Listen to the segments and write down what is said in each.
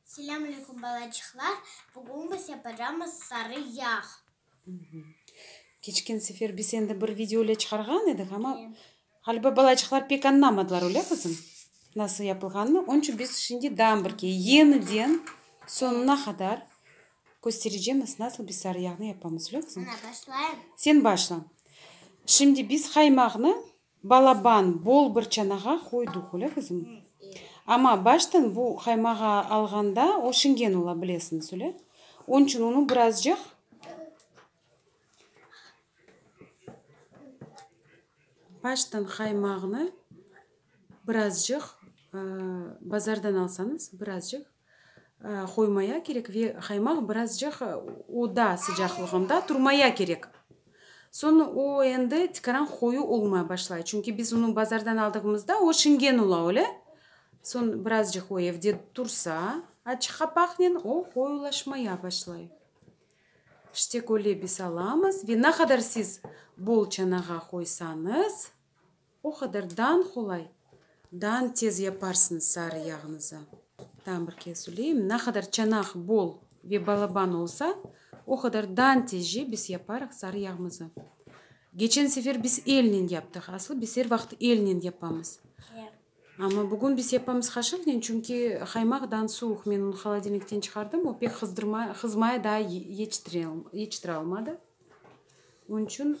Selâm aleyküm balacıqlar, bugün bize programmız Sarı yağ. Keçken sefer biz endi bir video ile çıqarğan edik, amma ğaliba balacıqlar pek añlamadılar, öyle qızım? Nasıl yapılğanını, onıñ içün biz şimdi daa bir kere yeniden soñuna qadar köstereceğimiz, nasıl biz sarı yağnı yapamız, öyle qızım? Ana, başlayım. Sen başla. Şimdi biz qaymaqnı Balaban, bol bir çanağa qoydıq, öyle qızım? Amma baştan bu qaymağı alğanda o şingen ola, bilesiñiz, öyle? Onıñ içün onı birazcıq baştan qaymağını birazcıq bazardan alsañız, birazcıq, qoymaya kerek ve qaymaq birazcıq oda sıcaqlığında turmaya kerek. Soñ o endi tikaran qoyu olmay başlay, çünki biz onı bazardan aldığımızda o şingen ola, öyle? Soñ birazcıq o evde tursa, açıq qapaqnen o qoyulaşmaya başlay. İşte köle biz alamız ve ne qadar siz bol çanağa qoysañız, O qadar dan qolay, dan tez yaparsıñız sarı yağıñızı. Daa bir kez söyleyim, ne qadar çanaq bol ve balaban olsa, o qadar dan tezce biz yaparıq sarı yağımızı. Geçen sefer biz elnen yaptıq, aslı biz er vaqıt elnen yapamız. Amma bugün biz yapamız qaşıqnen, çünki qaymaq dan suvuq, men onı holodilnikten çıqardım, o pek qızdırmay, qızmay daa yetiştire, yetiştire almadı. Onıñ içün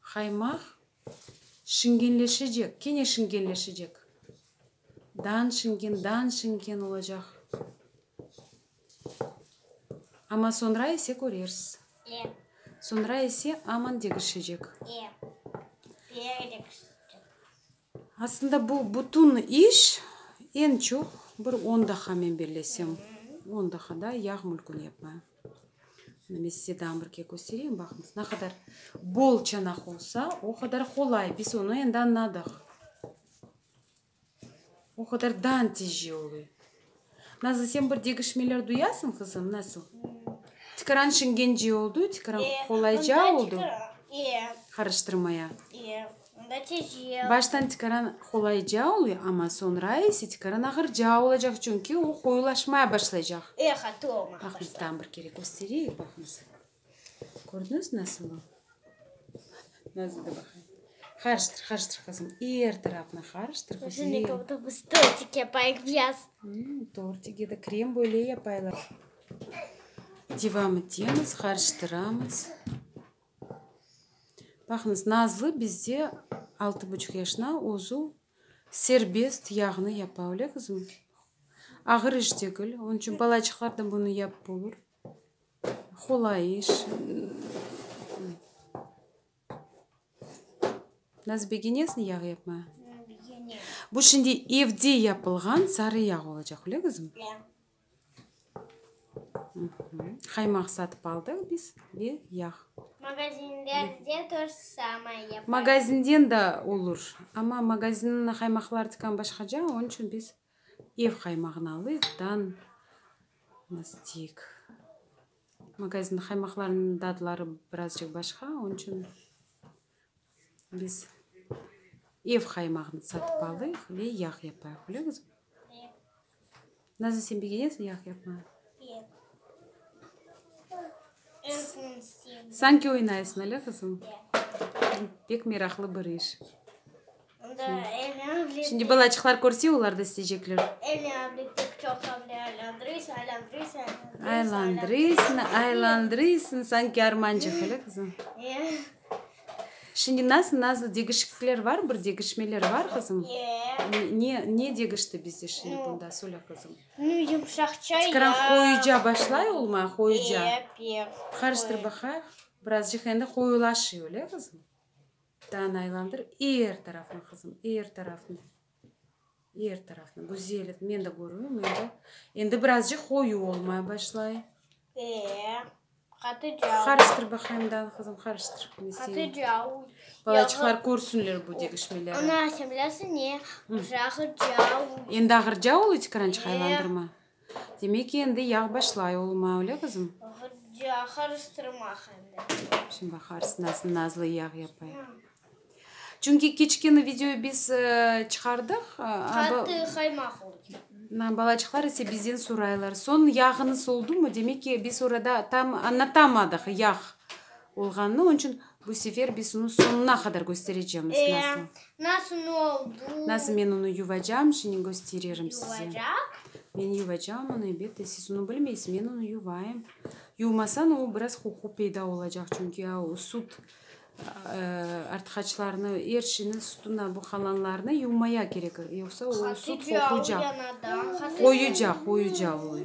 Qaymaq şingenleşecek, kene şingenleşecek. Dan şingen, dan şingen olacaq. Amma soñra ise körersiz. E. Soñra ise aman degişecek. E. Piyay degişecek. Aslında bu bütün iş, eñ çoq bir on daqa, men bellesem, on daqa da yağ mülküni yapmaya. Mına men size dağım bir ke köstereyim, baqıñız, ne qadar bol çanaq olsa, o qadar qolay, biz onı endi añladıq. O qadar dan tijce oluy. Nazlı, sen bir degişmeler duyasıñ, qızım, nasıl? Tikaran şingenci oldu, tikaran qolayca oldu. Qarıştırmaya. Baştan tikaran qolayca oluy, amma soñra ise tikaran ağırca olacaq, çünki o qoyulaşmaya başlaycaq. Baqıñız, tam bir kere köstereyik, baqıñız. Kördiñiz nasıl o? Nazlı da baqay. Harıştır, harıştır qızım. Er tarafnı harıştır, güzel. Tortik yapayıq biraz. Tortik ya da krem böyle yapaylar. Devam etemiz, harıştıramız. Baqıñız, Nazlı bizde altı buçuq yaşına, özü serbest yağnı yapa, öyle qızım? Ağır iş degil, onıñ içün balaçıqlar da bunı yapıp olur. Hulayış, nazbeginesni yağ yapma. Bu şimdi evde yapılğan sarı yağ olacaq, öyle qızım? Qaymaq satıp aldıq biz ve yağ. Magazinden da olur, amma magazinniñ qaymaqları tikan başqaca, onıñ içün biz. Ev qaymağınalıqtan nastik. Magazin qaymaqlarınıñ dadları birazcıq başqa, onıñ içün biz ev qaymağını satıp alıq ve yağ yapayıq, bile qızım? Nazlı, sen begenesiñ yağ yapmağa? Sanki oynayısıñ, ale qızım? Pek meraqlı bir iş. Şimdi balaçıqlar körse, olar da isteycekler. Aylandırıysın, aylandırıysın, sanki armancıq, ele qızım? Şimdi nasıl, nasıl, degişiklikler bar, bir degişmeler bar, qızım? Ne, ne degişti bizde şimdi bunda, söyle, qızım? Çıqıran qoyuca başlay olma, qoyuca. Qarıştır baqayıq. Birazcıq endi qoyulaşıyor, ele qızım? Taan aylandır er tarafnı, qızım, er tarafnı, er tarafnı. Güzel et, men de körüvim endi. Endi birazcıq qoyu olmay başlay. Ee, qatı cauy. Qarıştır baqayım, Dana qızım, qarıştır. Men Qatı seni- cauy. Balaçıqlar körsünler bu degişmelerni. Ana, sen bilesiñ ne? Qırağı cauy. Endi ağır cauy eti, krançıq Ee. aylandırma. Demek ki, endi yağ başlay olma, öyle qızım? Hıcca, qarıştırmaq endi. Şimdi baqarız, nasıl nazlı yağ yapay. Çünki keçkeni videoyı biz çıqardıq. Qatı qaymaq oldı. Na, balacıqlar ise bizden soraylar. Soñ yağınız oldu mu? Demek ki, biz orada tam anlatamadıq yağ. Olğanını, onıñ içün bu sefer biz onı soñuna qadar kösterecemiz. Nasıl? Nasıl ne oldu? Nasıl men onı yuvacam, şimdi köstererim size. Yuvacaq? Men yuvacam onı, elbette, siz onı bilmeysiz, men onı yuvayım. Yuvmasañ o biraz qoqu peyda olacaq, çünki ya o sut artqaçlarını, er şeyni, sutuna bu qalanlarını yuvmaya kerek, yoqsa o sut qoquycaq. Qoyuca, qoyuca olıy.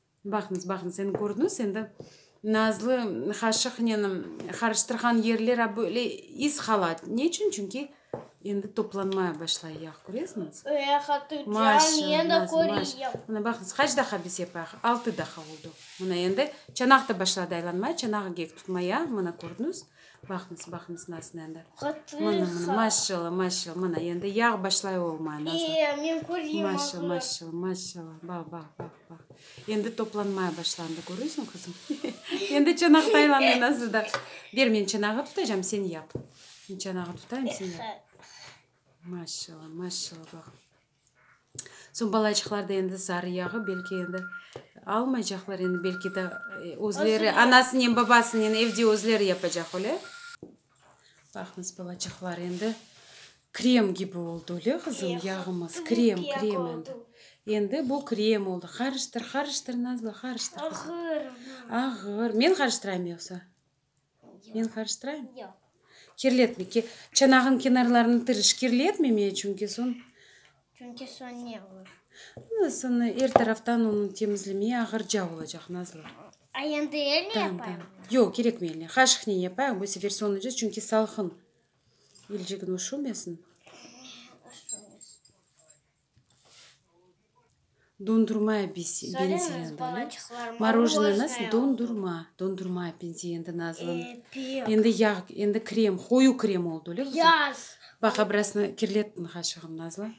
Baqıñız, baqıñız, endi kördiñiz, endi Nazlı haşıqnen qarıştırğan yerler a böyle iz qalat. Ne içün? Çünki endi toplanmaya başlay yağ, köreziñiz? Maşa, Nazlı, maşa. Mına baqıñız, qaç daqa biz yapayıq? Altı daqa oldu. Mına endi çanaq da başladı aylanmaya, çanağı gek tutmaya, mına kördiñiz? Baqıñız, baqıñız nasıl endi. Mına, mına, maşşallah, maşşallah, mına endi yağ başlay olmaya, Nazlı. Maşşallah, maşşallah, maşşallah, bax, bax, bax. Endi toplanmaya başlandı, körüsiñ, qızım? Endi çanaq taylanıñ nazlı da. Ber, men çanağı tutacam, sen yap. Men çanağı tutayım, sen yap. Maşalla, maşalla, baq. Soñ balacıqlar da endi sarı yağı belki endi almaycaqlar, endi belki de özleri, anasınen, babasınen evde özleri yapacaq, öyle? Baqıñız, balaçaqlar, endi krem kibi oldı, öyle, qızım, yağımız, krem, krem endi. Endi bu krem oldı. Qarıştır, qarıştır, Nazlı, qarıştır, qızım. Ağır. Ağır. Men qarıştırayım yoqsa? Men qarıştırayım? Yoq. Kirletme, ke, çanağın kenarlarını tırış, kirletme, çünki soñ Çünki soñ ne olur? Ana, soñ er taraftan onı temizlemeye ağırca olacaq, Nazlı. A endi elnen yapayım? Yoq, kerekmey elnen. Qaşıqnen yapayıq, bu sefer soñunca, çünki salqın. Elcigin üşümesin. Üşümesin. Dondurmaya benzeyen balı. Morojneniz dondurma, dondurmaya benzeyen endi Nazlın. Endi yağ, endi krem, qoyu krem oldı, öyle qızım? Baq, abrasını kirlettin qaşığım, Nazlı.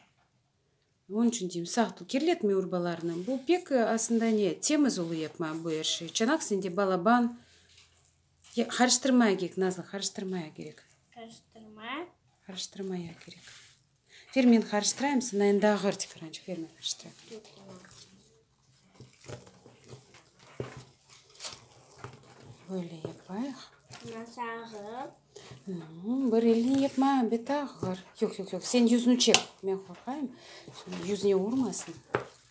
Onıñ içün deyim, sağ tur, kirletme urbalarını. Bu pek, aslında, ne, temiz olı yapma bu er şey. Çanaq sende balaban. Qarıştırmaya gerek, Nazlı, qarıştırmaya gerek. Qarıştırmaya? Qarıştırmaya gerek. Fermin qarıştıraym, sınayin daa ğır tifrançıq fermin qarıştıraym. Böyle yapayıq. Nasıl ağır? Bir elini yapma, beti ağır. Yoq, yoq, yoq, sen yüzünü çek. Men qorqayım, yüzüne urmasın.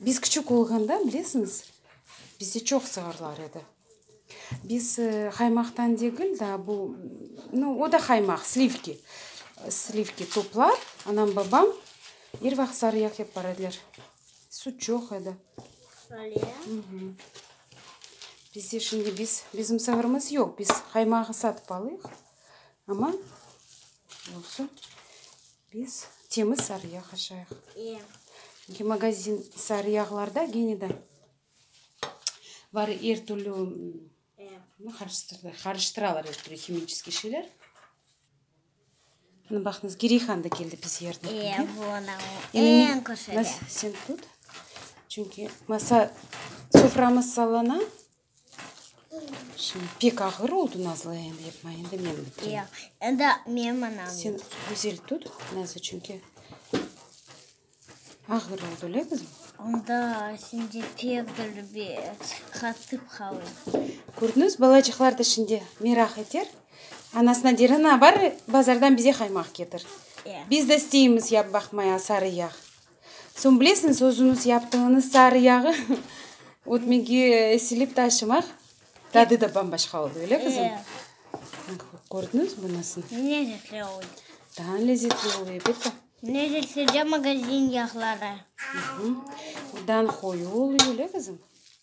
Biz küçük olğanda, bilesiñiz, bizde çoq sığırlar edi. Biz haymaqtan degil, daa bu, nu, o da haymaq, slivki, slivki toplap, anam, babam er vaqıt sarıya kep bar ediler. Süt çoq edi. Öyle ya? Bizde şimdi biz, bizim sığırımız yoq, biz haymağı satıp alıyıq. Amma, olsun. Biz temiz sarı yağ qaşayıq. Çünki magazin sarı yağlarda gene de var er türlü qarıştıralar er türlü himiçeskiy şeyler. Mına baqıñız, gireyhan da keldi biz yerine. Sen tut. Çünki masa, soframız sallana. Pek ağır oldı nazlı endi yapma endi men bitireyim. Yoq, endi menim anam. Sen güzel tut nazlı çünki ağır oldı le qızım. Onda sen de pek dolu bir qatıp qaldı. Kördiñiz balacıqlar da şimdi meraq eter. Anasına der ana bar bazardan bize qaymaq ketir. Biz de isteymiz yap baqmaya sarı yağ. Soñ bilesiñiz, özüñiz yaptığıñız sarı yağı ötmege silip taşımaq tadı da bam-başqa oldı, öyle qızım? Eee. Kördiñiz mi nasıl? Lezzetli oldı. Daa lezzetli oldı, elbette. Lezzetsiz de magazin yağları. Hı hı. Bundan qoyu oldı, öyle qızım?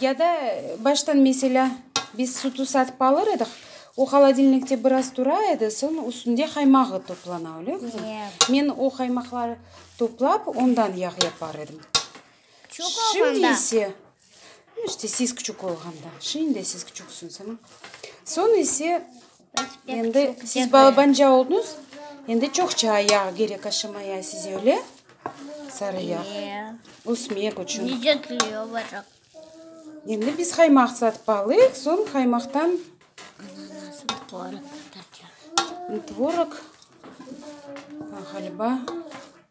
Ya da baştan meselâ, biz sütü satıp alır ediq, o holodilnikte biraz tura edi, soñ üstünde qaymağı toplana, öyle mi? Yoq. Men o qaymaqları toplap, ondan yağ yapar edim. Küçük olğanda. İşte siz küçük olğanda. Şimdi siz küçüksiniz. Soñ ise Endi siz balabanca oldıñız, endi çoqça yağ kerek aşamaya size, öyle? Sarı yağ. Ösmek içün. Endi biz qaymaq satıp alıq, soñ qaymaqtan tvorog, ğaliba.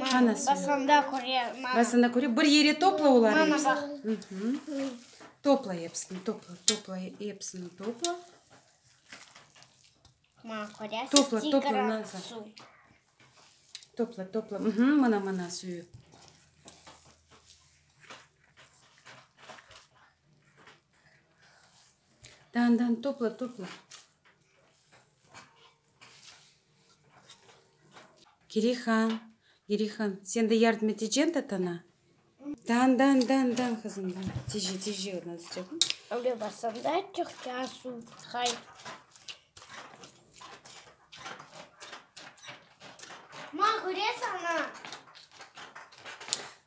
Mana sen. Basanda köre, mana. Basanda köre, bir yere topla oları hepsini. Mana baq. Topla hepsini, topla, topla, hepsini topla. Mana köresiz, topla, topla, nazar. Su. Topla, topla. Hı -hı, mana, mana suyu. Dan, dan, topla, topla. Girihan, Girihan, sen de yardım etecekn tatana? Dan, dan, dan, dan, qızım, dan. Tije, tije odan sıcaqnı. Öyle basam da çıqça su. Hay. Ma, gures ana.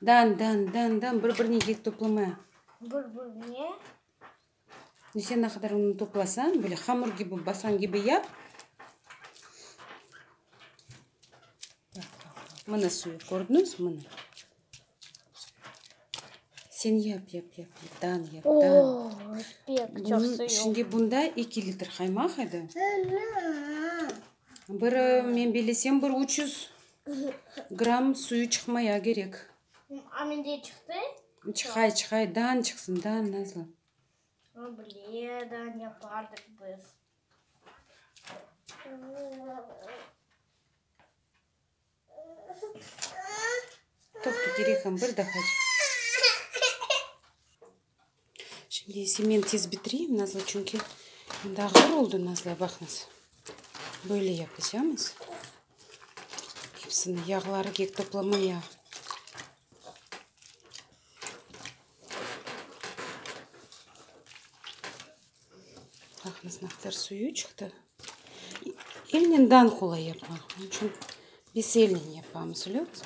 Dan, dan, dan, dan, bir-birine yek toplamaya. Bir-birine. Neyse, ne qadar unni toplasañ, böyle hamur kibi, basan kibi yap. Mına suyu, kördiñiz? Mına. Sen yap, yap, yap, dan yap, dan. Oo, pek çoq Bunun, suyu. şimdi bunda eki litr qaymaq edi. Bir, men bilesem, bir üç yüz gramm suyu çıqmaya kerek. Çıqay, çıqay, dan çıqsın, dan, Nazlı. Toqtı, Girey han, bir daha çıqsın. Şimdi ise men tiz bitireyim, Nazlı, çünki mında ağır oldı, Nazlı, baqıñız. Böyle yapacamız. Hepsini yağları kek toplama yağı. Baqıñız, ne qadar suyu çıqtı. Elnen dan qolay yapmaq. Bunıñ içün biz elnen yapamız, öyle olmasa.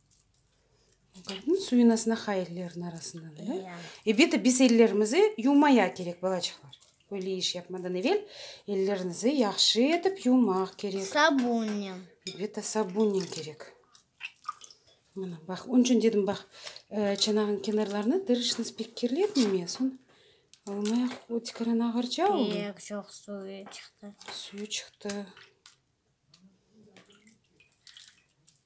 Qapnıñ suyunasına ha ellerin arasına bile. E beti biz ellerimizi yuvmaya kerek balaçıqlar. Böyle iş yapmadan evel ellerinizi yahşı etip yuvmaq kerek. Sabunnen. Beti sabunnen kerek. Mına baq, onıñ içün dedim baq, çanağın kenarlarını tırışnız pek kirletmeme, soñ olmaya otikeren ağırca oldu. Yoq, çoq suyu çıqtı. Suyu çıqtı.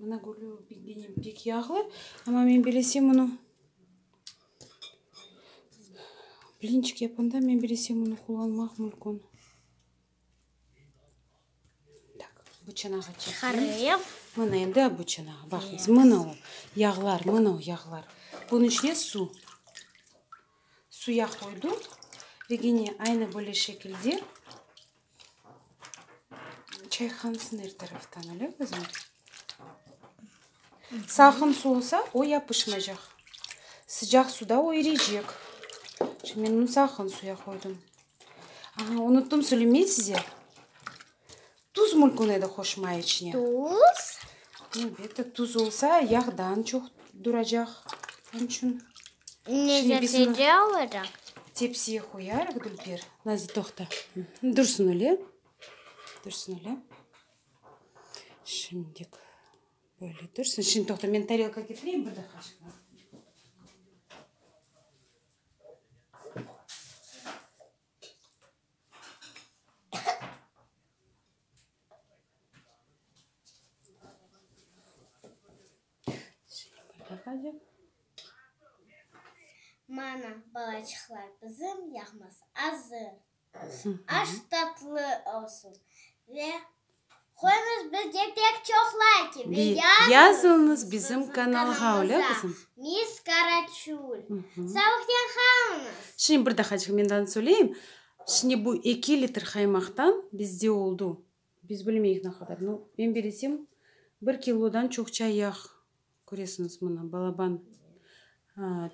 Mına gülü benim pek yağlı, amma men belesem bunı blinçik yapanda men belesem bunı qullanmaq mümkün. Tak, bu çanağa çekelim. Mına endi bu çanağa baqıñız. Mına o yağlar, mına o yağlar. Bunun içine su. Suya qoydum ve gene aynı böyle şekilde Çayhanısı ner taraftan öyle qızım? Salqın su olsa, o yapışmaycaq. Sıcaq suda o iriycek. Şimdi men onu salqın suya qoydum. Aha, unuttum söylemey size. Tuz mulkun edi qoşmay içine. Tuz? Elbette, tuz olsa, yağ daa çoq duracaq. Onıñ içün tepsiye qoyarıq, Dülber. Nazlı, toqta. Dursın öyle. Dursın öyle. Şimdilik böyle dursın. Şimdi toqta, men tarelka ketireyim, bir daqıqaçıq. Mana, balaçıqlar bizim, yağması azır. Aş tatlı olsun ve. Qoyuñız bizge pek çoq layki ve yazıñız bizim kanalğa. Miss Karaçul. Savıqten qalınız. Şimdi bir daha cıhmendanı söyleyim. Şimdi bu eki litr qaymaqtan bizde oldu, biz bilmeyik ne qadar, no, men belesem, bir kilodan çoqça yağ köresiñiz mına balaban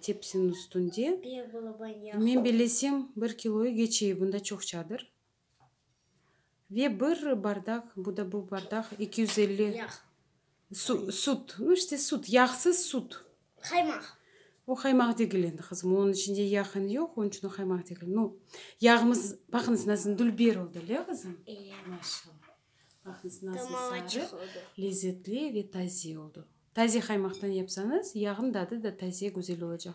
tepsiniñ üstünde. Bir balaban yağ. Men belesem, bir kiloyı geçey, bunda çoqçadır. Ve bir bardaq, bu da bu bardaq, eki yüz elli. Yağ. Su, süt, no işte süt, yağsız süt. Qaymaq. O qaymaq degil endi, qızım, onıñ içinde yağ eni yoq, onıñ içün o qaymaq degil. No, yağımız, baqıñız, nasıl dülber oldı, le, qızım? İyi. Maşallah. Baqıñız, nasıl sarı. Damağı çıqıdı. Lezetli ve taze oldı. Taze qaymaktan yapsañız, yağnıñ dadı da taze, güzel olacaq.